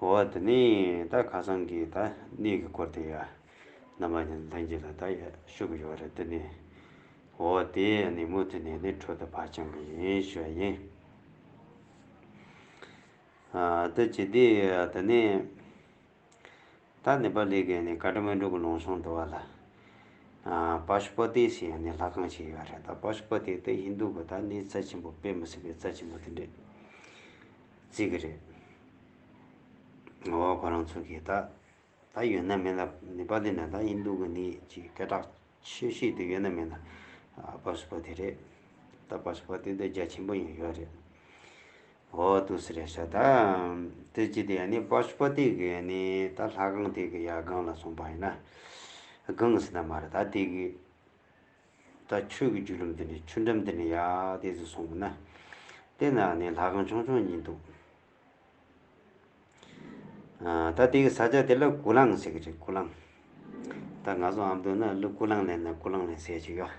འོ་དེ་ནས་ད་ཁ་སང་གི་ད་གནས་གི་སྐོར་དེ་ཡ་ནམ་པ་ནས་འདང་གི་ལ་ད་ཡ་ཤུ་གི་ཡོད་རེད་དེ་ནས་འོ་དེ་ནས་མོ་དེ་ནས་ནས་འཕྲོ་དེ་བག་ཆང་གི་ཡིན་ཤུ་ཡ་ཡིན། ཨ་ད་ཇི་དེ་དེ་ནས་ད་ནི་པ་ལི་གི་ནས་ཀ་ཏི་མན་གྲོ་གི་ལུང་ཤོང་དུ་བ་ལ་པ་ཤུ་པ་ཏི་སི་ཡ་ནས་ལྷ་ཁང་ཞིག་ཡོད་རེད་ད་པ་ཤུ་པ་ཏི་ད་ཧིན་དུ་གི་ད་གནས་རྩ་ཆེན་པོ་དཔེ་མི་སྲིད་པའི་རྩ་ཆེན་པོ་དེ་འདྲས། རྩིས་ཀྱི་རེད། ངོ་བོ་ཁོ་རང་ཚོ་གིས་ད་ད་ཡོད་ན་མིན་ལ་ནི་པ་ལི་ན་དང་ཨིན་རྡུ་གི་ནི་ཅི་སྐད་གྲགས་ཆེ་བཤད་དུ་ཡོད་ན་མིན་ལ་པར་སུ་པ་དེ་རེད་ད་པར་སུ་པ་དེ་འདོད་རྒྱ་ཆེན་པོ་ཡང་ཡོད་རེད། འོ་ཏུ་སི་རེད་ཤག་ད་དེ་ཅི་དེ་ཡ་ནི་པར་སུ་པ་དེ་གི་ནི་ད་ལྷ་ཁང་དེ་གི་ཡ་སྒང་ལ་སོང་པ་ཡིན་ན་སྒང་སི་ན་མ་རེད་ད་དེ་གི། ད་ཁྱོད་ཀྱི་རྒྱུད་ལམ་འདི་ནས་ཆུ་འགྲམ་འདི་ནས་ཡར་བལྟས་ཚེ་སོང་གི་ན། བལྟས་ན་ནི་ལྷ་ཁང་ཆུང་ཆུང་གཉིས་འདུག། ད་དེ་གི་ས་ཆ་དེ་ལ་སྐུ་ལང་ཟེར་གྱི་རེད་སྐུ་ལང། ད་ང་ཚོ་ཨ་མདོ་ན་ལུ་སྐུ་ལང་ལེན་ན་སྐུ་ལང་ལེན་ཟེར་གྱི་ཡོད།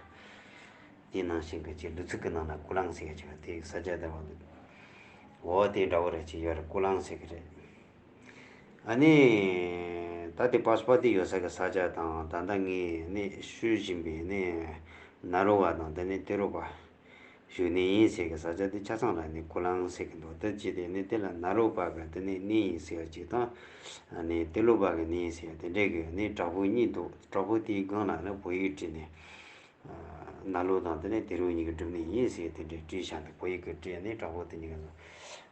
དེའི་ནང་བཞིན་གྱི་ལུ་ཚིག་གི་ནང་ན་སྐུ་ལང་ཟེར་གྱི་ཡོད་དེ་གི་ས་ཆ་དེ་བ་འདུག། འོ་དེ་འདྲ་བོ་རེད་ཅེས་ཡོད་རེད་སྐུ་ལང་ཟེར་གྱི་རེད། ནི། ད་ལྟའི་པཱ་སུ་པཱ་ཏི་ཡོད་ས་གི་ས་ཆ་དང་ད་ལྟ་ངས་ནི་ཤོད་བཞིན་པའི་ནི། ན་རོ་བ་དང་འདི་ནི་ཏེ་རོ་པཱ། ཞུ་ནི་ཡིན་ཟེར་གི་ས་ཆ་དེ་ཆ་ཚང་ལ་ནི་ཀུ་ལང་ཟེར་གི་འདུག་འདི་ཅི་སྟེ་ནི་དེ་ལ་ན་རོ་བ་གི་འདི་ནི་ནི་ཡིན་ཟེར་གཅིག་དང། ནི་ཏེ་ལོ་བ་གི་ནི་ཡིན་ཟེར་དེ་འདྲའི་གི་ནི་བྲག་ཕུག་གཉིས་འདུག་བྲག་ཕུག་དེའི་སྒང་ལ་ནི་བོད་ཡིག་བྲིས་ནི། ན་ལོ་དང་འདི་ནི་ཏེ་རོ་གཉིས་ཀྱི་སྒྲུབ་ནི་ཡིན་ཟེར་དེ་འདྲའི་བྲིས་བཞག་འདུག་བོད་ཡིག་གི་བྲིས་ནི་བྲག་ཕུག་དེ་གཉིས་ཀ་ཟེར།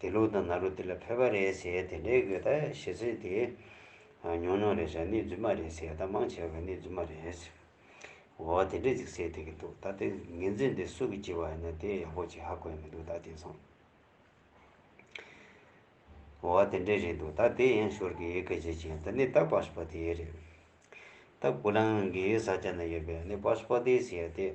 དེ་ལུག་དང་ན་ལུག་དེ་ལ་ཕལ་པ་རེད་ཟེར་དེ་འདྲའི་གོས་དག་ཞེ་ཟེར་དེ། ཉོག་ཉོག་རེད་ཟེར་ནི་རྫུན་མ་རེད་ཟེར་ད་མང་བྱས་པ་ནི་རྫུན་མ་རེད་ཟེར། འོ་དེ་འདྲས་ཅིག་ཟེར་དེ་གི་འདུག་ད་ལྟ་ངེད་འཛིན་དེ་སུ་གི་བགྱི་བ་ཡིན་ན་དེ་ཡག་པོ་ཅིག་ཧ་གོ་ཡ་མི་འདུག་ད་དེང་སང། འོ་དེ་འདྲས་རེད་འདུག་ད་དེ་ཡན་ཤོར་གི་སྐད་ཆ་ཅིག་ཡིན་ད་ནི་ད་པཱ་སུ་པཱ་ཏི་ཡས་རེད། ད་ཀུ་ལང་གི་ས་ཆ་ན་ཡོད་པའི་ནི་པཱ་སུ་པཱ་ཏི་ཟེར་དེ།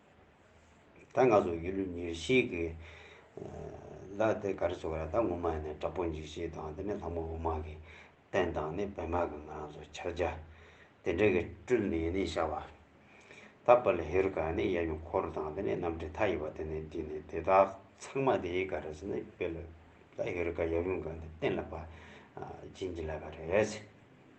ད་ང་ཚོ་ཡུལ་ལུས་ཉེར་ཞིག་གི་ལ་དེ་ག་རེ་ཚོ་ག་རེ་ད་ངོ་མ་ཡིན་ན་དྲག་པོ་འཇིགས་བྱེད་དང་དེ་ནས་ལྷ་མོ་འོ་མ་གི་བསྟན་དང་ནི་བེ་མ་གི་ང་རང་ཚོ་ཕྱག་རྒྱ་དེ་འདྲ་གི་སྤྲུལ་ནས་ནི་བཞག་པ། ད་པ་ལ་ཧེ་རུ་ཀ་ནི་གཡས་གཡོན་འཁོར་དང་དེ་ནས་རྣམ་འདྲེན་མཐའ་ཡས་པ་དེ་ནས་འདུས་ནས་དེ་དག་ཚང་མ་དེ་ག་རེ་ཟེར་ན་དཔེ་ལ་ཧེ་རུ་ཀ་གཡས་གཡོན་ག་ནི་བསྟན་ལ་པ་སྦྱིན་གྱི་ལ་ག་རེ།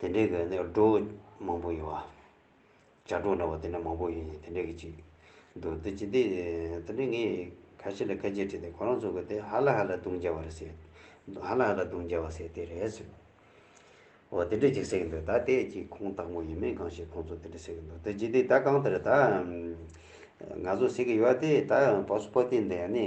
དེ་འདྲའི་གི་ནི་སྒྲོ་མང་པོ་ཡོད། བྱ་སྒྲོ་འདྲ་བོ་དེ་འདྲ་མང་པོ་ཡོད་ཅིང་དེ་འདྲའི་གི་ཅིག་འདུག་དེ་ཅི་སྟེ། དེ་འདྲའི་ངས་ཁ་ཤས་ལ་བཀའ་རྒྱས་དྲིས་ཏེ་ཁོ་རང་ཚོ་གི་དེ་ཧ་ལ་ཧ་ལ་བརྡུང་བྱ་བར་ཟེར། ཧ་ལ་ཧ་ལ་བརྡུང་བྱ་བ་ཟེར་དེ་རེད་ཟེར། འོ་དེ་འདྲའི་ཅིག་ཟེར་གི་འདུག་ད་དེ་ཅིག་ཁོང་སྟག་མོ་ཡིན་མིན་གང་ཞིག་ཁོང་ཚོ་དེ་འདྲ་ཟེར་གི་འདུག་དེ་ཅི་སྟེ་ད་གང་ལྟར་ད། ང་ཚོ་ཟེར་གི་ཡོད་དེ་ད་བག་སུ་བག་སྟེ་འདི་ནི།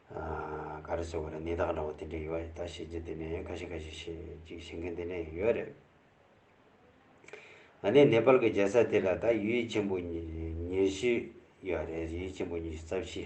གར་སོགས་ཀྱི་ནད་རྟགས་འདྲ་བོ་དེ་འདྲ་ཡོད་རེད་ད་བཤད་རྒྱུ་དེ་ནས་ཁ་ཤས་ཁ་ཤས་ཤིག་ཅིག་བཤད་མཁན་དེ་འདྲ་ཡང་ཡོད་རེད། ད་ནི་ནེ་པལ་གྱི་རྒྱལ་ས་དེ་ལ་ད་ཡུལ་ཡུལ་ཆེན་པོ་ཉེར་བཞི་ཡོད་རེད་ཡུལ་ཡུལ་ཆེན་པོ་ཉེར་བཞི་རྩ་བཞི།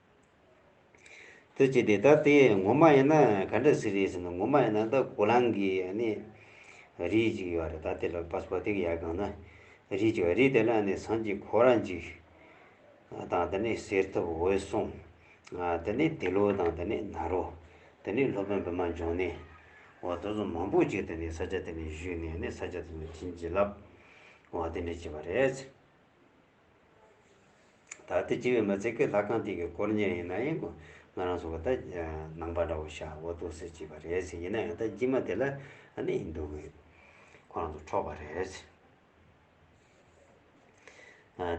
ཐུགས་རྗེ་འདི་ལྟར་ཏེ་ངོ་མ་ཡིན་ན་ག་འདྲ་ཟེར་རེད་ཟེར་ན་ངོ་མ་ཡིན་ན་ད་གོ་ལང་གི་ནི་རིགས་ཅིག་ཡོད་རེད་ད་དེ་ལ་པཱ་སྤོ་ཏིག་ཡར་གང་ན་རིགས་ཅིག་ཡོད་རིགས་དེ་ལ་ནི་སངས་ཀྱི་གོ་ར་འཇིག་དང་དེ་ནི་གསེར་ཐུབ་འོད་སྲུང་དེ་ནི་དེ་ལོ་དང་དེ་ནི་ནཱ་རོ་དེ་ནི་སློབ་དཔོན་བི་མ་འབྱུང་ནི་འོ་དོ་ཚོ་མང་པོ་ཅིག་དེ་ནི་ས་ཆ་དེ་ནི་བཞུད་ནས་ནི་ས་ཆ་དེ་ནི་བྱིན་གྱིས་བརླབས་འོ་དེ་འདྲ་བྱས་པ་རེད། ད་ལྟ་སྤྱི་བའི་མི་ཚེ་གི་ལྷ་ཁང་སྟེང་གི་དཀོར་གཉེར་ཡིན་ན་ཡང་ང་རང་ཚོ་ག་ད་ནང་པ་འདྲ་བོ་ཤ་བོ་ལྟོགས་སེ་བྱེད་པ་རེད་ཟེར་ཡིན་ན་ཡང་ད་སྤྱི་མ་དེ་ལ་ནི་ཡིན་འདུག་གི་ཁོ་རང་ཚོ་འཕྲོག་པ་རེད།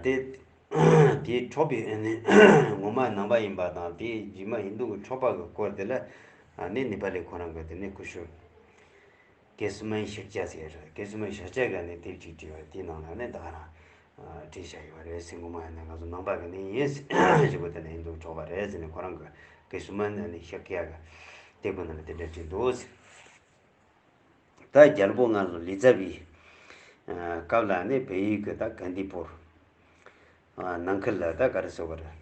དེ་དེའི་འཕྲོག་པའི་ནི་ངོ་མ་ནང་པ་ཡིན་པ་དང་དེའི་སྤྱི་མ་ཡིན་འདུག་གི་འཕྲོག་པ་གི་དཀོར་དེ་ལ་ནི་ནི་པ་ལའི་ཁོ་རང་གི་དེ་ནི་ཀུ་ཤུ། ཀེ་སི་མའི་ཤིག་ཅཱ་ཟེར། ཀེ་སི་མའི་ཤག་ཅཱ་ག་ནས་དེབ་ཅིག་བྲིས་པ་དེའི་ནང་ལ་ནི་དག་རང། བྲིས་བཞག་ཡོད་པ་རེད་ཟེར་མགོ་མ་ཡང་ནས་ང་ཚོ་ནང་པ་ག་ནས་ཡིན། ཞེས་པོ་དེ་ལ་ཡིན་འདུག་གྲོགས་པ་རེད་ཟེར་ནས་ཁོ་རང་གི་ཀེ་སི་མའི་ནས་ནི་ཤག་ཅཱ་ག་དེབ་ཁོ་ན་ལ་དེ་འདྲ་བྲིས་འདུག་ཟེར། ད་རྒྱལ་པོ་ང་ཚོ་ལི་ཙཱ་བི། སྐབས་ལ་ནི་བལ་ཡུལ་གྱི་ད་ག་འདི་པོར། ནང་ཁུལ་ལ་ད་ག་རི་སོག་ག་རི།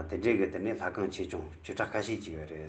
དེ་འདྲས་གི་དེ་ནི་ལྷ་ཁང་ཆེ་ཆུང་བཅུ་ཕྲག་ཁ་ཤས་ཅིག་ཡོད་རེད།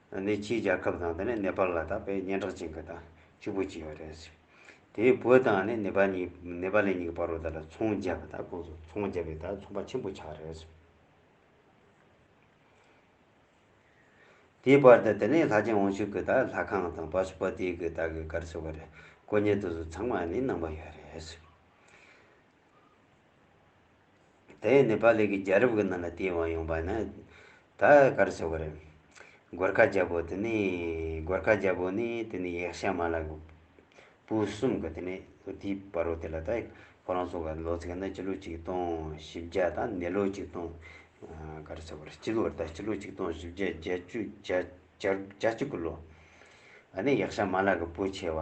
ནས་ཕྱིའི་རྒྱལ་ཁབ་དང་དེ་ནས་ནེ་པལ་ལ་དང་བོད་སྙན་གྲགས་ཅན་གྱི་དང་གཅིག་པུ་གཅིག་རེད། དེའི་བོད་དང་ནི་ནེ་པལ་གཉིས་ནེ་པལ་ལའི་གཉིས་ཀྱི་བར་རུ་དག་ལ་ཚོང་བརྒྱབ་པ་དང་ཁོང་ཚོ་ཚོང་བརྒྱབ་པའི་དང་ཚོང་པ་ཆེན་པོ་ཆགས་རེད། དེའི་བར་དུ་དེ་ནས་ལྷ་ཆེན་དབང་ཕྱུག་གི་དང་ལྷ་ཁང་དང་བ་སུ་པ་ཏིའི་གི་དག་གི་གར་སོགས་པ་རེ་སྐོ་ཉེ་དུ་སོགས་ཚང་མ་ནི་གནང་པ་ཡོད་རེད། དེ་ནི་པཱ་ལི་གི་རྒྱལ་རབས་ཀྱི་ནང་ལ་དེའི་དབང་ཡོང་པ་ནི་ད་གར་ཆོག་གི་རེད། གོར་ཁ་རྒྱལ་པོ་དེ་ནི་གོར་ཁ་རྒྱལ་པོ་ནི་དེ་ནི་ཡེག་ཤ་མ་ལ་གི་བུ་གསུམ་གི་དེ་ནི་དེའི་བ་རོ་དེ་ལ་ད་ཁོ་རང་ཚོ་ག་ལོ་ཚིགས་ན་སྤྱི་ལོ་ཆིག་སྟོང་བཞི་བརྒྱ་དང་ནི་ལོ་ཆིག་སྟོང་གར་ཆོག་གི་རེད་སྤྱི་ལོ་རེད་ད་སྤྱི་ལོ་ཆིག་སྟོང་བཞི་བརྒྱ་བརྒྱད་ཅུ་བརྒྱ་བརྒྱ་བཅུ་གི་ལོ་ཨ་ནི་ཡེག་ཤ་མ་ལ་གི་བུ་ཆེ་བ།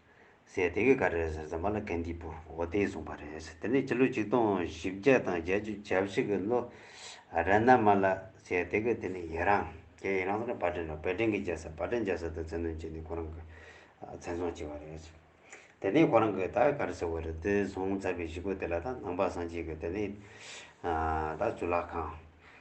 ཟེར། དེ་གས་ག་རེ་ཟེར་ཟེར་མ་ལ་གན་དྷིའི་བུ་འོ་དེས་གསུངས་པ་རེད་ཟེར། དེ་ནས་ཕྱི་ལོ་ཆིག་སྟོང་བཞི་བརྒྱ་དང་བརྒྱད་ཅུ་གྱ་བཞི་གི་ལོ་རན་ན་མ་ལ་ཟེར་དེ་གས་དེ་ནས་ཡེ་རང་རྒྱལ་ཡེ་རང་ཟེར་ན་བ་དྲན་རོ་བེ་དྲན་གི་རྒྱལ་ས་བ་དྲན་རྒྱལ་ས་དུ་ཚན་དོན་བྱས་ནས་ཁོ་རང་གི་ཚན་ཚོང་བྱས་པ་རེད་ཟེར། དེ་ནས་ཁོ་རང་གི་ད་ག་རེ་ཟེར་བ་རེད་དེ་ཟོང་ཚར་བའི་གཞིས་འགོ་དེ་ལ་ད་ནང་པ་སངས་རྒྱས་ཀྱི་དེ་ནས་ད་ཆུ་ལག་ཁང།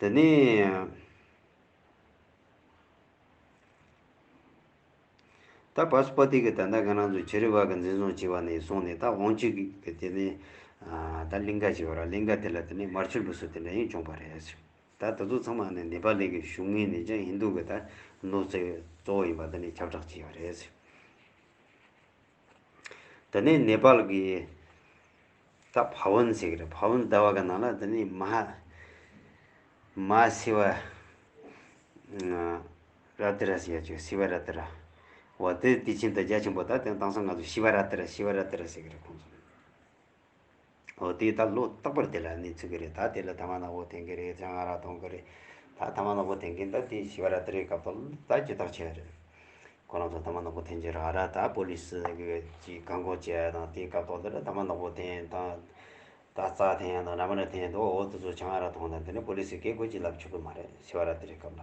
དེ་ནས་ད་བཱ་སུ་པ་ཏི་གི་ད་ནཱ་ག་ན་ཚོ་བྱེ་རི་བ་གི་འཛིན་བཟུང་བྱས་པ་ནས་བཟུང་ནས་ད་ཨོང་ཅི་གི་དེ་ནས་ད་གླིང་ག་ཅེས་པ་ར་གླིང་ག་དེ་ལ་དེ་ནས་མར་ཆུ་ལུགས་སུ་དེ་འདྲ་ཡིན་བྱུང་བ་རེད། ད་ད་ཚོ་ཚང་མ་ནི་ནེ་པཱ་ལི་གི་གཞུང་ངོས་ནས་ཀྱང་ཧིན་རྡུ་གི་ད་ནོར་ཚེ་གཙོ་བོ་ཡིན་པ་དེ་ནས་ཁྱབ་བསྒྲགས་བྱས་པ་རེད། དེ་ནས་ནེ་པཱལ་གྱི་ད་བྷ་བོན་ཟེར་གྱི་རེད་བྷ་བོན་ཟླ་བ་ག་ནང་ལ་དེ་ནི་མ་མ་སི་བ་ར་ཏི་ར་ཟེར་ཡ་ཆོས་སི་བ་ར་ཏི་ར་བ་དེ་དེ་ཕྱིན་ད་རྒྱ་ཆེན་པོ་ད་དེ་དང་ས་ང་ཚོ་ཤི་བ་ར་ཏི་ར་ཤི་བ་ར་ཏི་ར་ཟེར་གྱི་རེད་ཁོང་ཚོ། འོ་དེས་ད་ལོ་རྟག་པར་དེ་ལ་གནས་ཚུལ་གྱི་རེད་ད་དེ་ལ་ད་མ་ནག་པོ་དེང་གི་རེད་ད་ང་ར་དོང་གི་རེད་ད་ད་མ་ནག་པོ་དེང་གི་ད་དེ་ཞི་བ་ར་ཏི་རའི་སྐབས་ཐོག་ལ་ད་ཇི་ཐག་ཆད་རེད། ཁོ་རང་ཚོ་ད་མ་ནག་པོ་དེང་ཇི་རང་ར་ད་པོ་ལི་སི་ཀྱིས་བཀག་འགོག་བྱས་ཡ་དང་དེའི་སྐབས་ཐོག་ལ་ར་ད་མ་ནག་པོ་དེང་ད་ད་རྩ་དེང་ཡ་དང་ར་མ་ར་དེང་ད་འོ་དེ་ཚོ་བྱ་ང་ར་དོང་ད་དེ་ནི་པོ་ལི་སི་ཀས་གོ་ཅི་ལབ་ཆོག་གི་མ་རེད་ཞི་བ་ར་ཏི་རའི་སྐབས་ལ།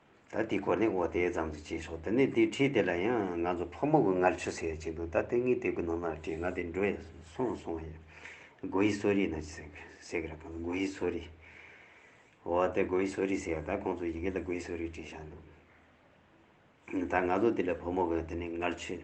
ད་དེའི་གོ་གནས་འོག་དེ་ཙམ་གྱིས་བྱས་ཆོག་དེ་ནས་དེའི་ཁྲིད་དེ་ལ་ཡང་ང་ཚོ་ཕོ་མོ་གི་ངར་ཆུ་ཟེར་གྱི་འདུག་ད་དེ་ངའི་དེབ་ཀྱི་ནང་ན་བྲིས་ང་དེ་འགྲོ་ཡས་སོང་སོང་ཡས་གོ་ཡི་སོ་རིས་ན་ཅི་ཟེར་ཟེར་གི་ར་གང་གོ་ཡི་སོ་རིས་འོ་དེ་གོ་ཡི་སོ་རིས་ཟེར་ད་ཁོང་ཚོ་ཡི་གེ་ལ་གོ་ཡི་སོ་རིས་བྲིས་བཞག་འདུག་ད་ང་ཚོ་དེ་ལ་ཕོ་མོ་གི་དེ་ནས་ངར་ཆུ།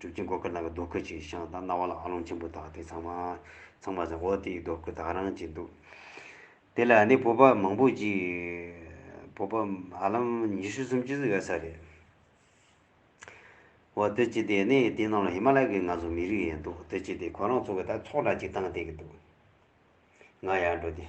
སྒྲུབ་ཀྱི་སྒོ་ཁར་ནང་གི་རྡོ་ཁུ་ཅིག་ཤང་དང་རྣ་བ་ལ་ཨ་ལོང་ཆེན་པོ་དག་དེ་ཚང་མ་ཚང་མ་ཟེར་འོ་དེའི་རྡོ་སྐུ་དག་རང་གཅིག་འདུག། དེ་ལ་ནི་བུ་ཕག་མང་པོ་ཅིག། བུ་ཕག་ཧ་ལམ་ཉི་ཤུ་སུམ་ཅུ་ཟིག་ཡོད་ས་རེད། འོ་བདུད་རྩི་དེ་ནི་དེའི་ནང་ལ་ཧི་མ་ལ་ཡ་གི་ང་ཚོ་མི་རིགས་ཡིན་འདུག་བདུད་རྩི་དེ་ཁོ་རང་ཚོ་གི་དག་ཚོགས་འདྲ་གཅིག་བཏང་སྟེ་གི་འདུག། ང་ཡར་འགྲོ་སྟེ།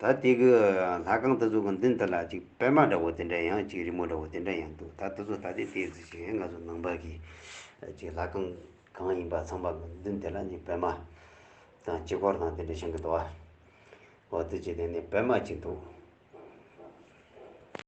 ད་དེ་གི་ལྷ་ཁང་དེ་ཚོ་གི་མདུན་དེ་ལ་ཅིག་པད་མ་འདྲ་བོ་དེ་འདྲ་ཡང་ཅིག་རི་མོ་འདྲ་བོ་དེ་འདྲ་ཡང་འདུག་ད་དེ་ཚོ་ད་དེ་དེ་ཚོ་ཞིག་ང་ཚོ་ནང་པ་གི་ཅིག་ལྷ་ཁང་གང་ཡིན་པ་ཚང་པ་གི་མདུན་དེ་ལ་ཅིག་པད་མ་དང་ཅིག་འཁོར་དང་དེ་འདྲ་བཞེངས་གི་འདུག་བ། འོ་དེ་ཅིག་དེ་ནས་པད་མ་ཅིག་འདུག།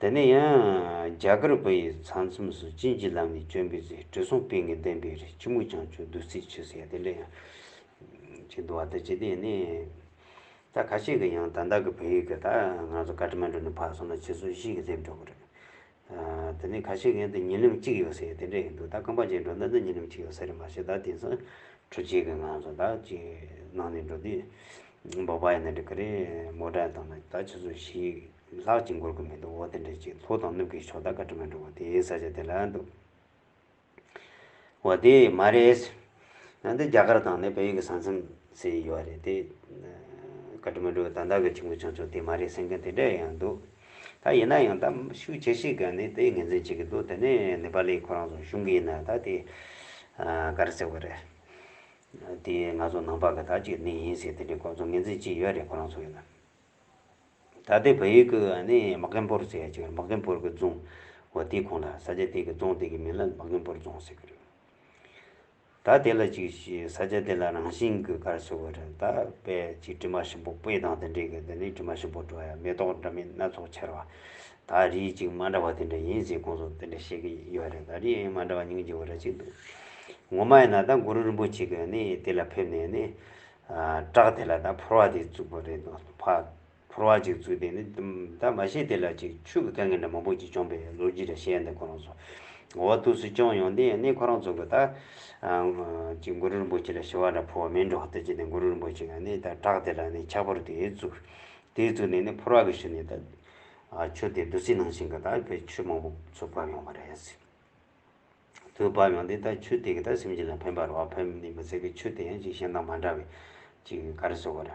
དེ་ནས་ཡང་རྒྱ་གར་བོད་ཡིག་ཚང་མཚམས་སུ་བྱིན་གྱིས་བརླབས་ནས་བྱོན་པའི་ཚེ་དྲི་བསུང་སྤེལ་ངེས་བདེན་པའི་རིགས་ཕྱི་མོ་བྱང་ཆུབ་བདུད་རྩིའི་ཆུ་ཟེར་དེ་འདྲ་ཡང་བྱིན་འདུག་བ་དེ་ཇི་སྟེ་ནི། ད་ཁ་ཤས་ཀྱིས་ཡང་དང་བདག་གི་བོད་ཡིག་གི་དག་ང་ཚོ་བཀའ་ཁྲི་མ་འགྲོ་ནས་ཕར་སོང་ན་ཕྱི་སོར་གཞིས་ཀྱི་སླེབས་འགྲོ་གི་རེད། དེ་ནས་ཁ་ཤས་ཀྱིས་ཡང་དུ་ཉིན་རིམ་གཅིག་ཡོད་ཟེར་དེ་འདྲ་ཡིན་འདུག་ད་རྐང་པ་བཅད་འགྲོ་ན་ད་ཉིན་རིམ་གཅིག་ཡོད་ཟེར་རེད་མ་གཞི་ད་དེང་སང་དྲུག་བཅད་ཀྱི་ང་ཚོ་ད་ཅིག་གནང་ནས་འགྲོ་དུས་འབོག་པ་ཡིན་ན་འགྲིག་གི་རེད་མོ་དྲན་བཏང་ན་ད་ཕྱི་སོར་གཞིས། ལྷག་ཅིག་འགོར་གྱི་མི་འདུག་འོ་དེ་འདྲའི་ཅིག་ལྷོ་དང་ནུབ་ཀྱི་ཕྱོགས་ད་ག་དྲི་མ་འདྲི་བ་དེའི་ས་ཆ་དེ་ལ་འདུག། འོ་དེ་མ་རེད། ཡང་འདི་རྒྱ་གར་དང་ནི་བལ་ཡུལ་གྱི་ས་མཚམས་སེ་ཡོད་རེད་དེ། ག་དྲི་མ་འདྲི་བ་ད་ད་གི་ཆུ་མགོ་ཆུང་ཆུང་དེ་མ་རེད་སེམས་མཁན་དེ་འདྲ་ཡང་འདུག། ད་ཡིན་ན་ཡང་ད་ཤུགས་ཆེ་ཤེས་ག་ནི་དེ་ངེས་འཛིན་བྱེད་ཀྱི་འདུག་དེ་ནི་ནི་པ་ལི་ཁོ་རང་ཚོ་ཤུགས་ཡིན་ན་ད་དེ་ག་རེ་ཟེར་བ་རེད། དེ་ང་ཚོ་ནང་པ་གི་ད་ཅིག་ནི་ཡིན་སྲིད་དེ་འདྲའི་ཁོ་ཚོ་ངེས་འཛིན་ཅིག་ཡོད་རེད་ཁོ་རང་ཚོ་ཡིན་ན། ད་ལྟའི་བལ་ཡུལ་གྱི་ནི་མ་ཀན་པོར་ཟེར་ཡ་ཅིག་རེད་མ་ཀན་པོར་གྱི་རྫོང། འོ་དེ་གོང་ལ་ས་ཆ་དེ་གི་རྫོང་དེ་གི་མིང་ལ་མ་ཀན་པོར་རྫོང་ཟེར་གྱི་རེད། ད་དེ་ལ་ཅིག་ཞིག་ས་ཆ་དེ་ལ་རང་བཞིན་གྱི་སྐར་ཟེར་བ་རེད་ད་དཔལ་གྱི་དྲི་མ་ཞིམ་པོ་སྤོས་དང་དེ་འདྲས་གྱི་དེ་ནི་དྲི་མ་ཞིམ་པོ་བྲོ་ཡ་མེ་ཏོག་འདྲ་མིན་སྣ་ཚོགས་ཆར་བ། ད་རིའི་ཅིག་མ་འདྲ་བ་དེ་འདྲ་ཡིན་ཟེར་ཁོང་ཚོ་དེ་འདྲ་བཤད་ཀྱི་ཡོད་རེད་ད་རིའི་ཨེ་མ་འདྲ་བ་ཉུང་ཆེ་བ་འདྲ་ཅིག་འདུག་ངོ་མ་ཡིན་ན་ད་གུ་རུ་རིན་པོ་ཆེ་གྱི་ནི་དེ་ལ་ཕེབས་ནས་ནི་བཀྲག་དེ་ལ་ད་ཕོར་བ་དེ་བཙུགས་པ་རེད་འདུག་ཕ། ཕོར་བ་ཅིག་བཙུགས་དེ་ནི་ད་མ་ཤེས་དེ་ལ་ཅིག་ཆུ་གི་སྐལ་ངན་འདྲ་མང་པོ་ཅིག་བྱུང་པས་ལོ་རྒྱུས་འདྲ་བཤད་འདུག་ཁོ་རང་ཚོ། འོ་བ་ཐུགས་སུ་བཅང་ཡོང་དེ་ནི་ཁོ་རང་ཚོ་གི་ད། ཅིག་གུ་རུ་རིན་པོ་ཆེ་ལ་ཞི་བ་འདྲ་ཕོར་བ་མིན་འགྲོ་ལྟ་ཅི་དེ་གུ་རུ་རིན་པོ་ཆེ་ག་ནི་ད་བཀྲག་དེ་ལ་ནི་ཕྱག་ཕོར་དེ་བཙུགས། དེ་བཙུགས་ནས་ནི་ཕོར་བ་གི་ཤུལ་ནས་ད། ཆུ་དེ་བདུད་རྩི་ནང་བཞིན་གི་ད་ཆུ་མང་པོ་ཚུར་བབས་ཡོང་བ་རེད། གྲོང་དུ་བབས་ཡོང་དེ་ལྟར་ཆུ་དེ་གི་ད་སེམས་ཅན་ལ་ཕན་པར་བ་ཕན་མི་མི་ཟེར་གི་ཆུ་དེ་ཡང་ཅིག་གཞན་དང་མ་འདྲ་བའི་ཅིག་ག་རེ་ཟེར་བ་ར།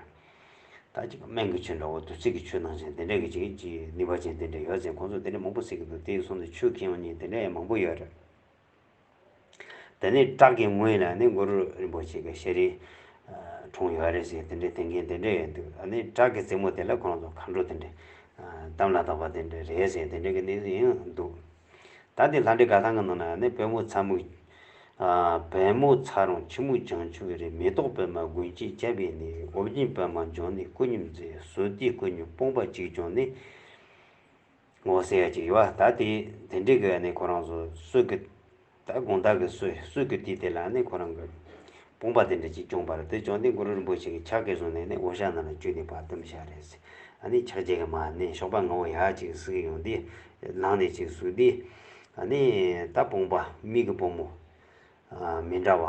ད་ཅིག་སྨན་གི་ཆུ་འདྲ་བོ་བདུད་རྩི་གི་ཆུ་ནང་བཞིན་དེ་འདྲ་གི་ཅིག་ཅིག་ནུས་པ་ཅན་དེ་འདྲ་ཡོད་ཟེར་ཁོང་ཚོ་དེ་འདྲ་མང་པོ་ཟེར་གི་འདུག་དེའི་གསུང་དུ་ཆུ་ཁེངས་བ་གཉིས་དེ་འདྲ་ཡང་མང་པོ་ཡོད་ར། དེ་ནས་བྲག་གི་ངོས་ལ་ནི་མགོ་རུ་རིན་པོ་ཆེ་གི་ཤེས་རིག། གྲོང་ཡོད་རེད་ཟེར་དེ་འདྲ་དེ་འགན་དེ་འདྲ་ཡོད་འདུག་ཨ་ནི་བྲག་གི་རྩེ་མོ་དེ་ལ་ཁོང་ཚོ་མཁའ་འགྲོ་དེ་འདྲ། གཏམ་ལ་དྭགས་པ་དེ་འདྲ་རེད་ཟེར་དེ་འདྲ་གི་གནས་ཚུལ་ཡང་འདུག། ད་ལྟའི་ལྷ་འདྲེ་ག་གང་གི་ནང་ན་ནི་བོན་མོ་ཚ་མུག། བལ་མོ་ཚ་རོང་ཁྱི་མོ་བྱང་ཆུབ་རི་མེ་ཏོག་པད་མ་དགུན་གཅིག་སྐྱ་བྷེ་ནི་ཨོ་བརྒྱན་པད་མ་འབྱུང་ནི་སྐུ་སྙུག་མཛེས་བཟོ་སྟེ་སྐུ་སྙུག་སྤུངས་པ་གཅིག་བྱུང་ནི། ངོ་སེ་ཡ་གཅིག་ཡོད་ད་དེ་དེ་འདྲི་གི་ནི་ཁོ་རང་ཚོ་སུ་གི། ད་དགོངས་དག་གིས་སུ་སུ་གིར་ཏི་དེ་ལ་ནི་ཁོ་རང་གི། དཔུང་པ་དེ་འདྲ་ཅིག་བསྐྱོངས་པར་དེ་བྱོན་ཏེ་གུ་རུ་རིན་པོ་ཆེ་གི་ཕྱག་གིས་བཟུང་ནས་ནི་འོ་ཞག་ནང་ལ་བཅུས་ཏེ་བར་དུམ་ཞག་རེ་ཟིན་ཨ་ནི་ཕྱག་རྒྱ་གི་མ་ནི་གཤོག་པ་ངོ་བོ་ཡག་ཅིག་གཟིགས་ཀྱི་ཡོང་སྟེ། ལངས་ནས་ཅིག་གཟུགས་འདི། ཨ་ནི། ད་དཔུང་པ་མིག་གི་སྤུ་མོ། མི་འདྲ་བ།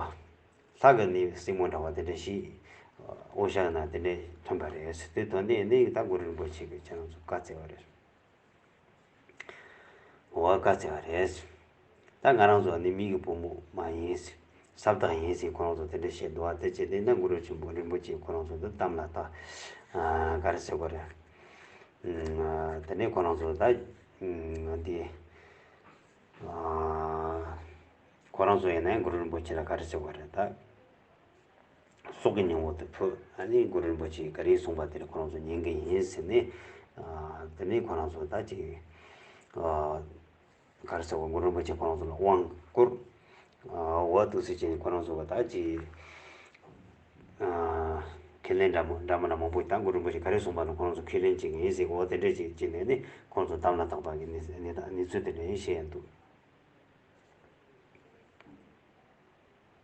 ལྷ་གི་ནི་སྲིང་མོ་འདྲ་བ་དེ་འདྲ་ཞིག། འོ་ཞག་ནང་དེ་འདྲས་ཐོན་པ་རེད། དེ་དོན་ཏེ་ནི་ད་གུ་རུ་རིན་པོ་ཆེ་གི་ཕྱག་རྫོགས་བཀའ་སྩལ་བ་རེད། འོ་བ་ཀ་ཟེར་བ་རེད། ད་ང་རང་ཚོ་ནི་མིག་གི་བུ་མོ་མ་ཡིན། ཟབ་བཏགས་ཡིན་ཟེར་ཁོ་རང་ཚོ་དེ་འདྲ་བཤད་འདུག་ཨ་ཙེ་ཅེ་དེ་ནས་གུ་རུ་ཆེན་པོ་རིན་པོ་ཆེས་ཁོ་རང་ཚོ་འདི་གཏམ་ལ་ལྟ། ག་རེ་ཟེར་གོ་རེ། དེ་ནས་ཁོ་རང་ཚོ་ད། འདི། ཁོ་རང་ཚོ་ཡིན་ན་གུ་རུ་རིན་པོ་ཆེ་ལ་ག་རེ་ཟེར་གོ་རེ་ད། སྲོག་གི་སྙིང་བོ་དེ་ཕུད་ཨ་ནི་གུ་རུ་རིན་པོ་ཆེས་ག་རེ་གསུངས་པ་དེར་ཁོ་རང་ཚོ་ཉན་གི་ཡིན་ཟེར་ནས། དེ་ནས་ཁོ་རང་ཚོ་ད་ཅིག་གར་སོང་བ་གུ་རུ་རིན་པོ་ཆེས་ཁོ་རང་ཚོ་ལ་དབང་བསྐུར། འོ་ཐུགས་སྲས་ཅན་ཁོ་རང་ཚོ་ད་ཅིག་ཁས་ལེན་འདྲ་མོ་འདྲ་མང་པོ་ད་གུ་རུ་རིན་པོ་ཆེས་ག་རེ་གསུངས་པ་ན་ཁོ་རང་ཚོ་ཁས་ལེན་བྱེད་ཀྱི་ཡིན་ཟེར་གི་འོ་དེ་འདྲས་ཅིག་ཅེས་ནས་ནི་ཁོ་རང་ཚོ་དམ་ལ་བཏགས་པ་གི་གནས་ཚུལ་དེ་འདྲ་ཡིན་བཤད་ཡ་འདུག།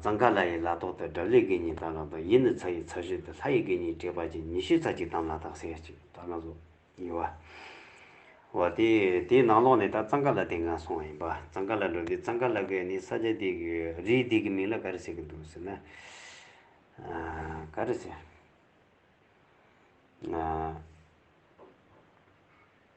གཙང་ཁ་ལ་ཡི་ལ་ཐོག་ཏུ་སྒྲ་ལི་གི་ཉིས་བཏགས་ལ་དོ་ཡི་ནི་ཚ་ཡི་ཚ་བཞིན་དུ་ལྷ་ཡི་གི་ཉིས་བྲིས་པ་ཅན་ཉི་ཤུའི་ཚ་གཅིག་དམ་ལ་དག་སེར་གཅིག་བཏགས་ན་སོ། ཡི་བ། བ་སྟེ། དེའི་ནང་ལོགས་ནས་ད་གཙང་ཁ་ལ་དེ་འགའ་སོང་བ་ཡིན་པ་གཙང་ཁ་ལ་འགྲོ་དུས་གཙང་ཁ་ལ་གི་ནི་ས་ཆ་དེ་གི་རིའི་དེ་གི་མིང་ལ་ག་རེ་ཟེར་གི་འདུག་ཟེར་ན། ག་རེ་ཟེར།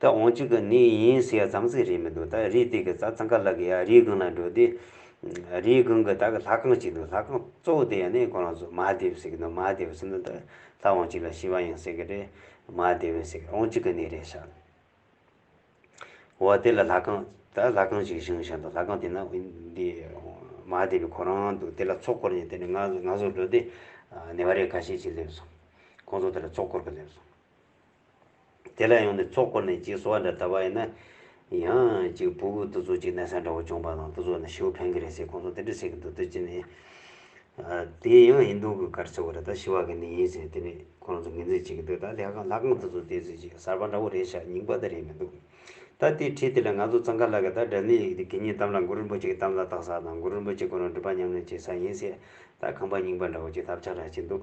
ད་འོང་གཅིག་གི་ནི་ཡིན་ཟེར་ཡ་ཙང་ཚིག་རེད་མི་འདུག་ད་རིའི་སྟེང་གི་ཙང་ཙང་ཀ་ལ་གི་ཡ་རིའི་སྒང་ལ་འགྲོ་དུས། རིའི་སྒང་གི་ད་གི་ལྷ་ཁང་གཅིག་འདུག་ལྷ་ཁང་གཙོ་བོ་དེ་ཡ་ནི་ཁོ་རང་ཚོ་མ་ཧ་དེ་བི་ཟེར་གི་འདུག་མ་ཧ་དེ་བི་ཟེར་ན་ད་ལྷ་འོང་གཅིག་ལ་ཤི་བ་ཡིན་ཟེར་གི་རེད། མ་ཧ་དེ་བི་ཟེར་གི་འོང་གཅིག་གི་ནི་རེད་ཤག་ནི། འོ་དེ་ལ་ལྷ་ཁང་ད་ལྷ་ཁང་གཅིག་བཞེངས་བཞེངས་འདུག་ལྷ་ཁང་དེ་ན་འདི་མ་ཧ་དེ་བི་ཁོ་རང་འདུག་དེ་ལ་ཚོགས་འཁོར་ཡིན་དེ་ནི་ང་ང་ཚོ་འགྲོ་དུས་ནེ་བ་རེ་ཁ་ཤས་ཅིག་སླེབས་སོང། ཁོང་ཚོ་དེ་ལ་ཚོགས་འཁོར་གི་སླེབས་སོང། དེ་ལ་ཡང་ནི་ཚོགས་བསྐོར་ནས་ཅིག་གསོལ་བ་འདྲ་བལྟ་བ་ཡིན་ན། ཡང་ཅིག་བུ་གུ་ཏུ་ཚོ་ཅིག་གནས་སའི་འདྲ་བོ་བྱུང་བ་དང་ཏུ་ཚོགས་ནས་ཤི་བོ་ཕན་གི་རེད་ཟེར་ཁོང་ཚོ་དེ་འདྲ་བྱེད་ཀྱི་འདུག་དུས་ཅིག་ནས། དེ་ཡང་ཡིན་འདུག་གི་གར་ཆག་གི་རེད་ད་ཤི་བ་གི་ནི་ཡིན་ཟེར་དེ་ནས་ཁོ་རང་ཚོ་ངེས་འཛིན་བྱེད་ཀྱི་འདུག་ད་ལྷས་ཁང་ལྷ་ཁང་ཏུ་ཚོ་དེ་ཚོས་ཅིག་གསར་པ་འདྲ་བོ་རེད་ཤག་རྙིང་པ་དེ་རེད་མི་འདུག་ད་དེ་ཁྲིད་དེ་ལ་ང་ཚོ་ཙང་ཁ་ལག་གི་ད་དགྲ་ནི་གི་གཉིས་གཏམ་ལ་མགུར་རིན་པོ་ཆེ་གི་གཏམ་ལ་བཏགས་ས་དང་མགུར་རིན་པོ་ཆེ་ཁོ་རང་སྒྲུབ་པ་ཉམས་ལེན་བྱེད་ས་ཡིན་ཟེར་ད་ཁང་པ་རྙིང་པ་འདྲ་བོ་ཅིག་ཐབས་ཆག་འདྲ་བྱེད་འདུག་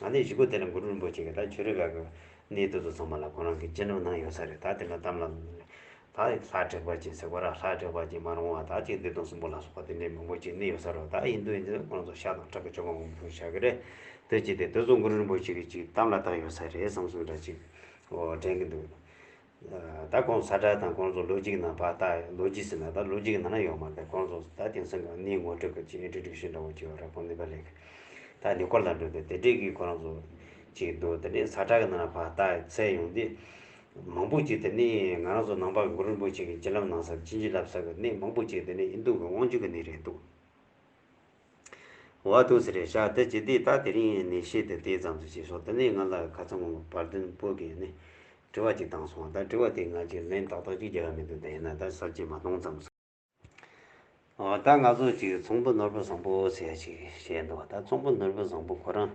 ང་ནི་གཞིས་འགོ་དེ་ལ་གུ་རུ་རིན་པོ་ཆེ་གི་ད་ཆོས་རེ་འགའ་གི་གནས་བསྡུ་དུ་ཚང་མ་ལ་ཁོང་རང་གི་སྤྱི་འགྲམ་ན་ཡོད་ས་རེད་ད་དེ་འདྲ་གཏམ་ལ། ད་ལྷ་དྲེགས་པ་ཅན་ཟེར་གོ་ར་ལྷ་དྲེགས་པ་ཅན་མ་རུང་བ་ད་ཅིག་བདེ་སྟོང་གསུམ་པོ་ལ་སོགས་པ་དེ་འདྲའི་མང་པོ་ཅིག་གནས་ཡོད་ས་རུ་ད་ཡིན་དུས་ཡིན་དུས་ཁོང་རང་ཚོ་ཤ་དང་ཁྲག་གི་ཆོ་ག་མང་པོ་ཕུལ་བཞག་གི་རེད་དུས་ཅིག་དེ་དུས་སུ་གུ་རུ་རིན་པོ་ཆེ་གི་ཅིག་གཏམ་ལ་བཏགས་ཡོད་ས་རེད་བསམ་བསམ་འདྲ་ཅིག་དྲན་གི་འདུག། ད་ཁོང་ས་བཀྲ་དང་ཁོང་ཚོ་ལོ་གཅིག་ནང་བག་སྟག་ལོ་གཅིག་ཟེར་ན་ད་ལོ་གཅིག་ནང་ཡོང་མ་ཐལ་ཁོང་ཚོ་ད་དེང་སང་གང་ནི་ངོ་སྤྲོད་སྐབས་ཀྱི Introduction འདྲ་བོ་བྱེད་བ་ར་ཁོང་ནི་བ་ལེགས་ད་ནི་སྐོར་ལ་འགྲོ་དེ་དེ་འདྲས་ཀྱི་ཁོ་རང་ཚོ་ཅིག་འདུག་དེ་ནི་ས་བཀྲ་གི་ནང་ན་བག་སྟག་ཚལ་ཡོང་དེ་མང་པོ་ཅིག་དེ་ནི་ང་རང་ཚོ་ནང་པ་གུ་རུ་རིན་པོ་ཆེ་གི་སྤྱན་ལམ་ནང་སར་སྤྱིན་ཅི་ལབ་ས་གི་ནི་མང་པོ་ཅིག་དེ་ནི་ཨིན་རྡུ་གི་དབང་ཕྱུག་གི་ནི་རེད་འདུག། བ་ཐུགས་ཟེར་རེ་བཞག་འདི་ཇི་ལྟའི་རྟགས་དེ་རིང་ནས་བཤད་དུས་དེ་ཙམ་ཟེར་ཅེས་སོགས་འདི་ནས་ང་ལ་ཁ་ཚང་བ་བར་དོན་སྤོད་ཀྱི་ནས་དྲི་བ་ཅིག་བཏང་སོང་བ་དང་དྲི་བ་དེ་ང་ཅིག་ལན་ཏག་ཏག་ཅིག་བརྒྱབ་ཡ་མི་འདུག་ད་ཡིན་ན་ད་གསར་བརྗེ་མ་གཏོང་ཙམ་སོང། འོ་ད་ང་ཚོ་ཅིག་ཚོང་པོ་ནོར་བུ་བཟང་པོ་ཟེར་ཡ་ཅིག་བཤད་འདུག་ད་ཚོང་པོ་ནོར་བུ་བཟང་པོ་ཁོ་རང་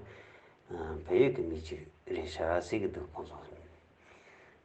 བལ་ཡུལ་གྱི་མི་ཅིག་རེད་བཞག་ཟེར་གྱི་འདུག་ཁོང་ཚོ།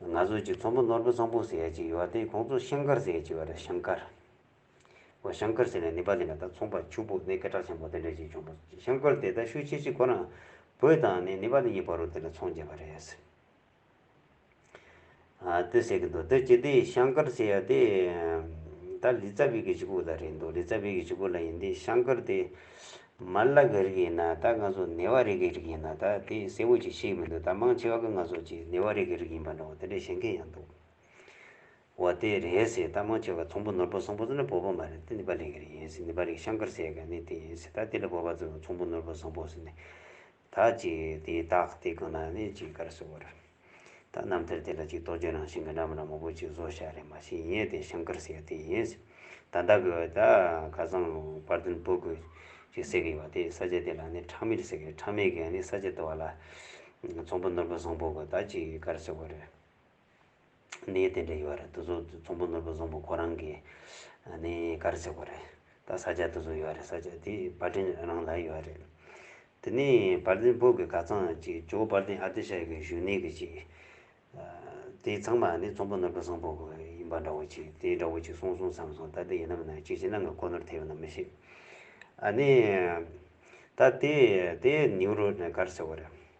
ང་ཚོ་ཀྱི་ཚོང་པ་ནོར་བུ་བཟང་པོ་ཟེར་ཡ་ཅིག་ཡོད་བ་དེ་ཁོང་ཚོ་ཤང་ཀར་ཟེར་ཡ་ཅིག་ཡོད་རེད་ཤང་ཀར། ཨོ་ཤང་ཀར་ཟེར་ནས་ནི་པ་ལི་ན་ད་ཚོང་པ་ཕྱུག་པོ་ནི་སྐད་གྲགས་ཆེན་པོ་དེ་འདྲ་ཅིག་བྱུང་བ་ཤང་ཀར་དེ་ད་ཤུ་ཆེ་ཆེ་གོ་ན་བོད་དང་ནི་ནི་པ་ལི་གཉིས་བར་རུ་དེ་ལ་ཚོང་བྱེད་པ་རེད། ལྟོས་ཟེར་གི་འདུག་ལྟོས་ཀྱི་དེ་ཤང་ཀར་ཟེར་ཡ་དེ་ད་ལི་ཙཱ་བི་གི་ཆུ་ཁུག་ལ་རེད་འདུག་ལི་ཙཱ་བི་གི་ཆུ་ཁུག་ལ་ཡིན་དེ་ཤང་ཀར་དེ། མར་ལག་གི་རིགས་ཡིན་ན་ད་ང་ཚོ་ནེ་བ་རེ་གི་རིགས་ཡིན་ན་ད་དེ་གསལ་བོ་ཅིག་ཤེས་ཀྱི་མི་འདུག་ད་མང་ཆེ་བ་ཀི་ང་ཚོ་ཅི་ནེ་བ་རེ་གི་རིགས་ཡིན་པ་འདྲ་བོ་དེ་འདྲ་ཤེས་མཁན་ཡང་འདུག་བ་དེ་རེད་སྲིད་ད་མང་ཆེ་བ་ཚོང་པོ་ནོར་བུ་སོང་པོ་ཚོ་ནི་བོད་པ་མ་རེད་དེ་ནི་པ་ལི་གི་རིགས་ཡིན་སྲིད་ནི་པ་ལི་ཤང་ཀར་སེ་ག་ནི་དེ་ཡིན་སྲིད་ད་དེ་ལ་བོད་པ་ཚོ་ཚོང་པོ་ནོར་བུ་སོང་པོ་སི་ནི་ད་ཅི་དེ་དག་དེ་ཀུན་ན་ནི་ཅིག་གར་སོ་བར། ད་རྣམ་ཐར་དེ་ལ་ཅིག་རྟོགས་བརྗོད་རང་བཞིན་གྱི་རྣམ་རང་མོག་པོ་ཅིག་བཟོ་བྱ་རེ་མ་བྱེད་ཡིན་ཏེ་ཤང་ཀར་སེ་ཡ་དེ་ཡིན། ད་བདག་གི་བུ་དག་ཁ་སང་དཔར་བདུན་བུ་དགུ་ཅིག་བསྲེགས་ཡོད་པ་དེ་ས་ཆ་དེ་ལ་ནི་ཁྲག་མེད་ཟེར་གི་ཁྲག་མེད་གིས་ནི་ས་ཆ་དེ་བ་ལ། ཚོང་པོ་ནོར་བུ་བཟང་པོ་གི་ད་ཅིག་གར་སོ་བར། གནས་དེ་འདྲ་ཡོད་རེད་དུ་གཟུགས་ཚོམ་བུ་ནོར་བུ་བཟང་པོ་ཁོ་རང་གི་ནས་གར་བྱེད་དགོས་རེད་ད་ས་སྐྱ་དུ་གཟུགས་ཡོད་རེད་ས་སྐྱ་དེ་བ་དྲིན་རང་ལ་ཡོད་རེད་དེ་ནས་བར་ལྡན་བོད་ཀྱི་གར་ཚང་གཅིག་ཇོ་བར་ལྡན་ཨ་ཏི་ཤ་ཡི་གི་བཞུགས་གནས་གི་ཅིག་དེ་ཚང་མ་ནི་ཚོམ་བུ་ནོར་བུ་བཟང་པོ་གི་ཡིན་པ་འདྲ་བོ་ཅིག་དེ་འདྲ་བོ་ཅིག་གསུངས་གསུངས་བསམ་བསམ་ད་དེ་ཡིན་ནམ་ནང་ཅིག་ཅིག་ནང་གི་ཁོ་ནོར་དེ་ཡོད་ན་མི་ཤེས་ཨ་ནི་ད་དེ་དེ་ནེའུ་རོ་ནས་གར་བྱེད་དགོས་རེད།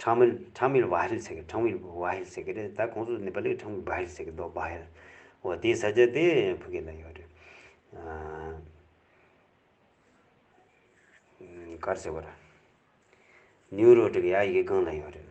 ཁྲང་མིལ་ཁྲང་མིལ་བྷ་ཧེལ་ཟེར་གི་ཁྲང་མིལ་བྷ་ཧེལ་ཟེར་གི་རེད་ད་ཁོང་ཚོ་ནེ་པ་ལིར་ཁྲང་མིལ་བྷ་ཧེལ་ཟེར་གི་འདུག་བྷ་ཧེལ་འོ་དེའི་ས་ཆ་དེ་ཕུ་གེ་ལ་ཡོད་རེད་ཀར་ཟེར་བ་ར་ནིའུ་རོ་ཀྲི་གི་ཡ་ཡིག་སྒང་ལ་ཡོད་རེད།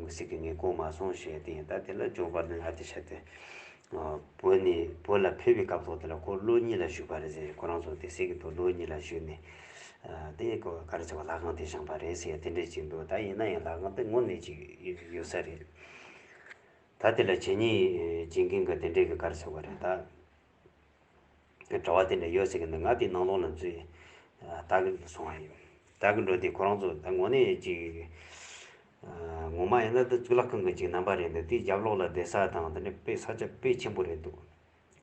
མགུར་ཚིག་གི་ངས་གོ་མ་སོང་ཞེས་བསྟན་ཡོད་ད་དེ་ལ་ཇོ་བར་ནི་ཨ་ཏི་ཤ་དེ། བོད་ནས་བོད་ལ་ཕེབས་པའི་སྐབས་ཐོག་དེ་ལ་ཁོ་ཀླུ་གཉིས་ལ་བཞུགས་པ་རེད་ཟེར་ཁོ་རང་ཚོ་དེ་སྲིད་ཀྱི་དུ་ཀླུ་གཉིས་ལ་བཞུགས་ནས། དེ་ཀོ་ག་རེ་ཟེར་བ་ལག་ཁང་དེ་བཞེངས་པ་རེད་ཟེར་དེ་འདྲས་ཅིག་འདུག་ད་ཡིན་ན་ཡང་ལག་ཁང་དེ་ངོ་མེད་ཅིག་ཡོད་ས་རེད། ད་དེ་ལ་བྱེད་ཉེས་བྱེད་མཁན་གྱི་དེ་འདྲས་ཀི་ག་རེ་ཟེར་བ་རེད་ད། ངས་གྲྭ་བ་དེ་འདྲ་ཡོད་ཟེར་གི་འདུག་ང་དེའི་ནང་ལོག་ན་འཛུལ་བདག་གི་སོང་བ་ཡིན། བདག་གི་འགྲོ་དེ་ཁོ་རང་ཚོ་ད་ངོ་ནས་ཅིག་ངོ་མ་ཡིན་ན་འདི་གཙུག་ལག་ཁང་གི་ཅིག་རྣམ་པ་རེད་འདུག་དེའི་རྒྱབ་ལོག་ལ་བསྡད་ས་དང་དེ་ནས་དཔེ་ས་ཆ་དཔེ་ཆེན་པོ་རེད་འདུག་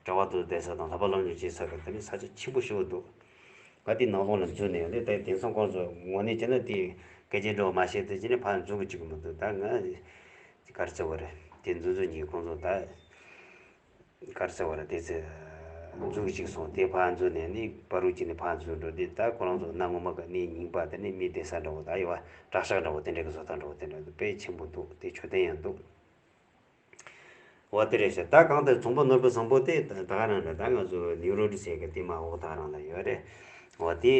གྲྭ་བ་ཚོ་བསྡད་ས་དང་ལྷག་པ་སློབ་སྦྱོང་བྱེད་ས་དང་དེ་ནས་ས་ཆ་ཆེན་པོ་ཤོས་འདུག་ང་དེའི་ནང་ལོག་ན་འཛུལ་ནས་ལས་དེ་དེང་སང་ཁོ་རང་ཚོ་ངོ་ནས་བྱས་ན་དེ་སྐད་ཆ་འདྲ་བོ་མ་བཤད་ཚེ་ཅི་ནས་ཕར་འཛུལ་གི་ཅིག་མི་འདུག་ད་ང་གར་བརྩེ་བ་རེད་དེ་འཛུལ་འཛུལ་གྱིས་ཁོང་ཚོ་ད། དཀར་གསལ་བ་ལ་དེ་ཚེ་འཛུགས་གཅིག་སོང་དེ་ཕར་འཛུགས་ནས་ནི་པ་རུ་གཅིག་ནི་ཕར་འཛུགས་འགྲོ་དེ་ལྟར་ཁོ་རང་ཚོ་གནའ་སྔོན་མ་ག་ནི་ཉིང་པ་དེ་ནི་མི་བདེ་ས་འདྲ་བོ་ད་ཡོད་བ་དྲག་ཤག་འདྲ་བོ་དེ་འདྲའི་གི་བཟོ་ལྟ་འདྲ་བོ་དེ་འདྲ་དཔེ་ཆེན་པོ་འདུག་དེ་ཆོས་ལྡན་ཡང་འདུག་བ་དེ་རེད་ཤག་ད་གང་ལྟར་ཚོང་པ་ནོར་བུ་བཟང་པོ་དེ་ད་ག་རང་རེད་ད་ང་ཚོ་ནིའུ་རོ་ཀྲི་སེ་གི་དེ་མ་འོག་ད་རང་ད་ཡོད་རེད་བ་དེ་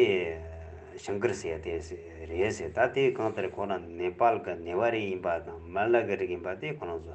ཤང་ཀིར་སེ་ཡ་དེ་རེད་ཟེར་ད་དེ་གང་ལྟར་ཁོ་རང་ནེ་པཱལ་གི་ནེ་བ་རིགས་ཡིན་པ་དང་མ་ལ་གི་རིགས་ཡིན་པ་དེ་ཁོ་རང་ཚོ་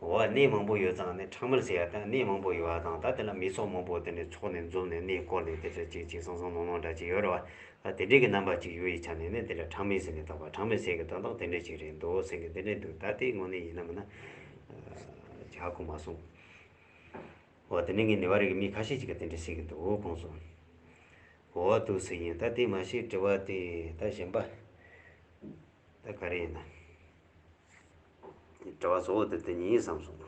འོ་བ་གནས་མང་པོ་ཡོད་ཙང་ནི་ཁྲག་མར་བྱས་ཡ་དང་གནས་མང་པོ་ཡོད་བ་དང་ད་དེ་ལ་མི་ཚོགས་མང་པོ་དེ་ནི་ཚོགས་ནས་འཛོམས་ནས་གནས་བསྐོར་ནས་དེ་འདྲ་ཅིག་ཅིག་སང་སང་ནོང་ནོང་འདྲ་ཅིག་ཡོད་རེད་བ། ད་དེ་འདྲས་ཀྱི་རྣམ་པ་ཅིག་ཡོད་ཡི་ཆ་ནས་ནི་དེ་འདྲ་ཁྲག་མིན་ཟེར་ནས་དང་བ་ཁྲག་མིན་ཟེར་གི་དོན་དག་དེ་འདྲས་ཅིག་རེད་འདུག་སེང་གེ་དེ་འདྲས་འདུག་ད་དེའི་ངོ་ནས་ཡིན་ནམ་མིན་ན། ཇག་གོ་མ་སོང། འོ་དེ་ནས་ངས་ནི་བ་རིག་གི་མི་ཁ་ཤས་ཅིག་གི་དེ་འདྲས་ཟེར་གི་འདུག་གོང་སོང། འོ་བ་དུག་སེ་ཡིན་ད་དེ་མ་ཤེས་དྲི་བ་དེ་ད་གཞན་པ། ད་ག་རེ་ཡིན་ན། དྲི་བ་གཙོ་བོ་དེ་དེ་ཉིད་ཡིན་བསམ་སོང།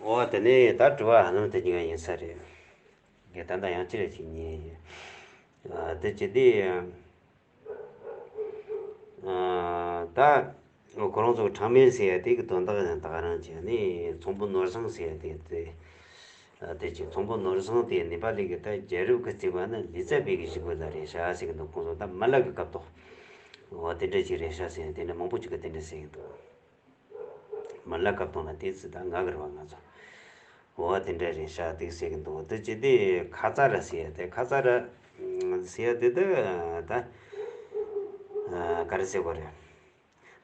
འོ་དེ་ནས་ད་དྲི་བ་ཧ་ལམ་དེ་ཉིད་ཡིན་ས་རེད། དེ་ད་ལྟ་ཡང་ཅི་རེད་ཅིག་ཉན་ཡོད། དེ་ཇི་སྟེ། ད་ཁོ་རང་ཚོ་གྲངས་མེད་ཟེར་ཡ་དེ་གི་དོན་དག་ཡང་དག་རང་བྱས་ནས་ཚོང་པོ་ནོར་བཟང་ཟེར་ཡ་དེ་དེ། བདེ་ཆེན་དང་པོ་ནོར་བཟང་དེ་ནི་པ་ལི་གི་ཐ་རྒྱལ་རབས་ཀྱི་བརྩིགས་པ་ནི་ལི་ཙྪ་བེ་གི་བཞི་འགོས་ལ་རེ་ཤ་ཟེར་གྱི་འདུག་ཁོང་ཚོ་ད་མ་ལ་གི་སྐབས་དང། འོ་དེ་འདྲ་གཅིག་རེ་ཤ་ཟེར་ཡང་དེ་འདྲ་མང་པོ་གཅིག་གི་དེ་འདྲ་ཟེར་གྱི་འདུག། མ་ལ་སྐབས་དང་ལ་དེ་ཚིག་ད་ང་གི་རེ་བ་ང་ཚོ། འོ་དེ་འདྲ་རེ་ཤ་འདུག་ཟེར་གྱི་འདུག་འདི་ཅི་དེ་ཁ་ཙ་ར་ཟེར་ཡ་དེ་ཁ་ཙ་ར། ཟེར་ཡ་དེ་དེ་ད། ག་རེ་ཟེར་དགོས་རེད།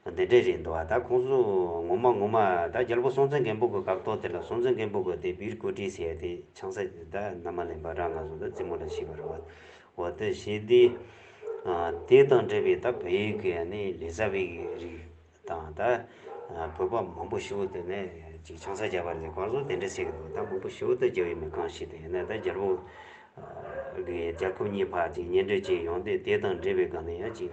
བདེ་འབྲས་རེད་འདུག་ད་ཁོང་ཚོ་ངོ་མ་ངོ་མ་ད་རྒྱལ་པོ་སྲོང་བཙན་སྒམ་པོ་གི་གག་ཏོག་དེ་ལ་སྲོང་བཙན་སྒམ་པོ་གི་དེ་བིར་ཀོ་ཏྲིས་ཟེར་དེ་ཆང་ས་ད་ནམ་མ་ལེན་པར་རང་ང་ཚོ་ད་རྩེད་མོ་ལ་ཤི་བར་འོ་ད་ཞེ་དེ། དེ་དང་འབྲེལ་བའི་ད་བོད་ཡིག་གི་ནི་ལས་རྩ་བའི་རིགས་དང་ད་བོད་པ་མང་པོ་ཞིག་དེ་ནི་ཅིག་ཆང་ས་རྒྱག་པ་ལས་གང་བཟོ་དེ་འདྲ་ཟེར་གི་འདུག་ད་མང་པོ་ཞིག་ད་རྒྱ་བའི་མི་གང་ཞིག་དེ་ཡིན་ན་ད་རྒྱལ་པོ་གི་རྒྱལ་ཁབ་གཉིས་བར་ཅིག་གཉེན་སྒྲིག་ཅིག་ཡོང་དུས་དེ་དང་འབྲེལ་བའི་སྒང་ནས་ཡང་ཅིག་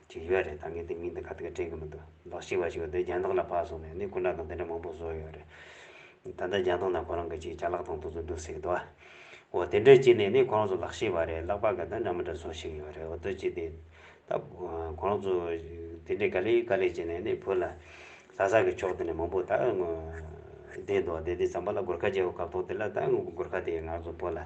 ཅིག་ཡོད་རེད་ད་ངས་དེ་མིང་དང་ག་དུས་ཀ་དྲན་གི་མི་འདུག་ལོ་གཅིག་བ་ཞིག་འོ་དོད་རྒྱང་ཐག་ལ་བབས་སོང་ནས་ནི་སྐུ་འདྲ་དང་འདི་འདྲ་མང་པོ་བཟོ་ཡོད་རེད། ད་ལྟ་རྒྱང་ཐག་ན་ཁོ་རང་གི་ཅིག་བྱ་ལག་ཐང་དུ་ཚུར་འདུག་སྲིད་འདུག་ཨོ་དེ་འདྲའི་ཅིག་ནས་ནི་ཁོ་རང་ཚོ་ལག་ཤེས་བ་རེད་ལག་པ་ག་འདྲ་འདྲ་མི་འདྲ་བཟོ་ཞིག་ཡོད་རེད་འོ་དོད་ཅིག་དེ་ད་ཁོ་རང་ཚོ་དེ་འདྲའི་ག་ལེ་ག་ལེ་བྱས་ནས་ནི་བོད་ལ་ལྷ་ས་གི་ཕྱོགས་དེ་ནས་མང་པོ་ད་བསྡད་འདུག་བསྡད་དེ་ཙམ་པ་ལ་སྒོར་ཁ་རྒྱག་གི་སྐབས་ཐོག་དེ་ལ་ད་སྒོར་ཁ་དེ་ཡང་ང་ཚོ་བོད་ལ།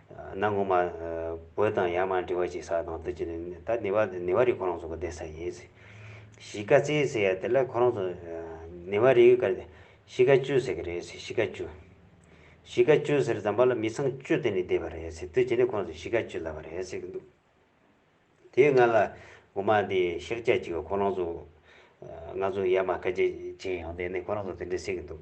གནའ་སྔོན་མ། བོད་དང་ཡར་མར་འབྲི་བ་གཅིག་ས་དང་དུས་ཀྱི་ནི། ད་ནི་བ་དེ་ནི་བ་རིགས་ཁོ་རང་ཚོ་གི་སྡེ་ས་ཡིན། གཞིས་ཀ་རྩེ་ཟེར་ཡ་དེ་ལ་ཁོ་རང་ཚོ། ནི་བ་རིགས་ཀ་གཞིས་ཀ་ཅུ་ཟེར་གི་རེད་གཞིས་ཀ་ཅུ། གཞིས་ཀ་ཅུ་ཟེར་ཛམ་པ་ལ་མི་ཚང་བཅུ་དེ་ནི་སྡེ་བ་རེད་ཟེར་དུས་ཀྱི་ནི་ཁོ་རང་ཚོ་གཞིས་ཀ་ཅུ་ལབ་པ་རེད་ཟེར་གི་འདུག། དེའི་སྔ་ལ་འོ་མ་དེ་ཤེག་བྱ་གཅིག་ག་ཁོ་རང་ཚོ། ང་ཚོ་ཡར་མར་ཁ་ཆེ་ཆེ་ཡོང་དེ་ནི་ཁོ་རང་ཚོ་དེ་འདྲི་ཟེར་གི་འདུག།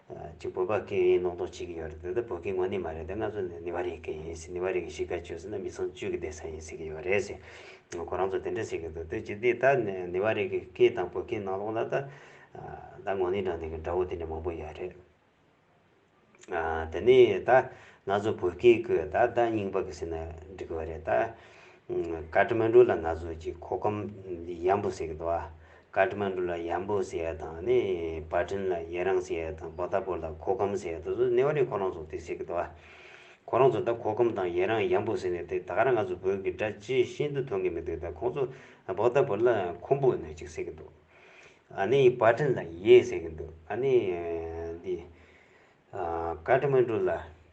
གཅིག་བོད་པ་སྐད་ཡིན་ནོག་ནོག་བྱེད་ཀྱི་ཡོད་རེད་དེ་ད་བོད་སྐད་ངོ་ནི་མ་རེད་དེ་ང་ཚོ་ནི་ནི་བ་རིའི་སྐད་ཡིན་སྲིད་ནི་བ་རིའི་གཞིས་ཀ་བཅོས་སྲིད་ན་མི་ཚང་བཅོས་ཀྱི་བསྡད་ས་ཡིན་ཟེར་གྱི་ཡོད་རེད་ཟེར་ཁོ་རང་ཚོ་དེ་འདྲ་ཟེར་གྱི་འདུག་དེ་ཇི་སྟེ་ད་ནི་བ་རིའི་གི་སྐད་དང་བོད་སྐད་ནང་ལོག་ན་ད་ད་ངོ་ནི་དྲང་བདེན་གྱི་དགྲ་བོ་དེ་འདྲ་མང་པོ་ཡོད་རེད། དེ་ནི་ད་ང་ཚོ་བོད་སྐད་ཀྱི་ད་ད་རྙིང་པ་གི་ཟེར་ན་འགྲིག་གི་བ་རེད་ད། བཀའ་ཁྲི་མ་འགྲོ་ལ་ང་ཚོ་གཅིག་ཁོ་ཁམ་ཡམ་བུ་ཟེར་གྱི་འདུག་ཨ། ཀཱ་ཏི་མན་དུ་ལ་ཡམ་པོ་ཟེར་བ་དང་ནི་བ་ཏྲིན་ལ་ཡེ་རང་ཟེར་བ་དང་བོ་ད་པོ་ལ་གྷོ་གམ་ཟེར་བ་དེ་ཚོ་ནེ་བ་ལའི་ཁོ་རང་ཚོ་དེ་ཟེར་གི་འདུག་ཨ། ཁོ་རང་ཚོ་ད་གྷོ་གམ་དང་ཡེ་རང་ཡམ་པོ་ཟེར་ནས་དེ་ད་ག་རང་ང་ཚོ་བོད་ཀྱི་སྒྲ་ཇི་བཞིན་དུ་མཐོང་གི་མི་འདུག་ད་ཁོང་ཚོ་བོ་ད་པོ་ལ་ཁོམ་པོ་ནས་ཅིག་ཟེར་གི་འདུག་ཨ་ནི་བ་ཏྲིན་ལ་ཡེ་ཟེར་གི་འདུག་ཨ་ནི་འདི་ཀཱ་ཏི་མན་དུ་ལ་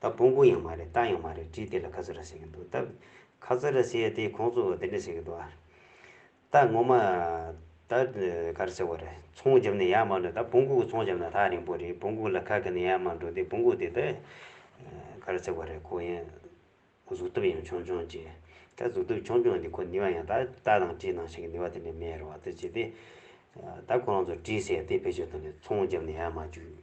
ད་སྤུན་སྤུན་ཡང་མ་རེད་རྟ་ཡང་མ་རེད་བཀྲིས་བདེ་ལ་ཁ་ཚོད་ར་བྱེད་ཀྱི་འདུག་སྟབས། ཁ་ཚོད་ར་བྱེད་དེ་ཁོང་ཚོ་དེ་འདྲ་བྱེད་ཀྱི་འདུག་ཨ། རྟ་ངོ་མ། ད་ག་རེ་ཟེར་བ་རེད་ཚོང་བརྒྱབ་ནས་ཡར་མར་འགྲོ་ད་སྤུན་སྤུན་གྱི་ཚོང་བརྒྱབ་ན་ཐག་རིང་པོ་རེད་སྤུན་སྤུན་ལ་ཁ་གི་ནས་ཡར་མར་འགྲོ་དེ་སྤུན་སྤུན་དེ་ད། ག་རེ་ཟེར་བ་རེད་ཁོ་ཡང། གཟུགས་སྟོབས་ཡང་ཆུང་ཆུང་གྱིས། ད་གཟུགས་སྟོབས་ཆུང་ཆུང་དེ་ཁོ་ནི་བ་ཡང་ད་རྟ་དང་བཀྲིས་ནང་བྱེད་ཀྱི་ནི་བ་དེ་འདྲ་མེད་རེད་བ་ད་བྱེད་དེ། ད་ཁོ་རང་ཚོ་བཀྲིས་ཟེར་དེ་བེད་སྤྱོད་གཏོང་དེ་ཚོང་བརྒྱབ་ནས་ཡར་མར་རྒྱུགས།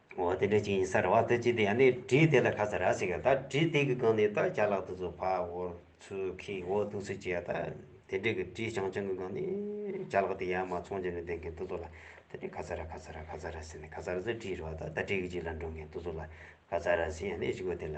འོ་དེ་འདྲ་ཅིག་ཡིན་ས་རེད་བ་དེ་ཅི་དེ་ཡང་ནི་བྲིས་དེ་ལ་ཁ་ས་ར་ཟིག་ག་ད་བྲིས་དེ་གི་སྒང་ནས་ད་བྱ་ལག་ཏུ་ཚུ་བ་འོ་ཚུ་ཁི་འོ་ཏུ་ཚུ་ཅི་ཡ་ད་དེ་འདྲི་གི་བྲིས་ཆང་ཆང་གི་སྒང་ནས་བྱ་ལག་དེ་ཡ་མ་ཚོང་ཅི་ནས་དེ་གི་ཏུ་ཚུ་ལ་དེ་འདྲི་ཁ་ས་ར་ཁ་ས་ར་ཁ་ས་ར་ཟེར་ནས་ཁ་ས་ར་ཚུ་བྲིས་རོ་ད་ད་བྲིས་གི་ཅིག་ལ་འགྲོ་གི་ཏུ་ཚུ་ལ་ཁ་ས་ར་ཟིན་ཡང་ནི་ཅིག་གོ་དེ་ལ།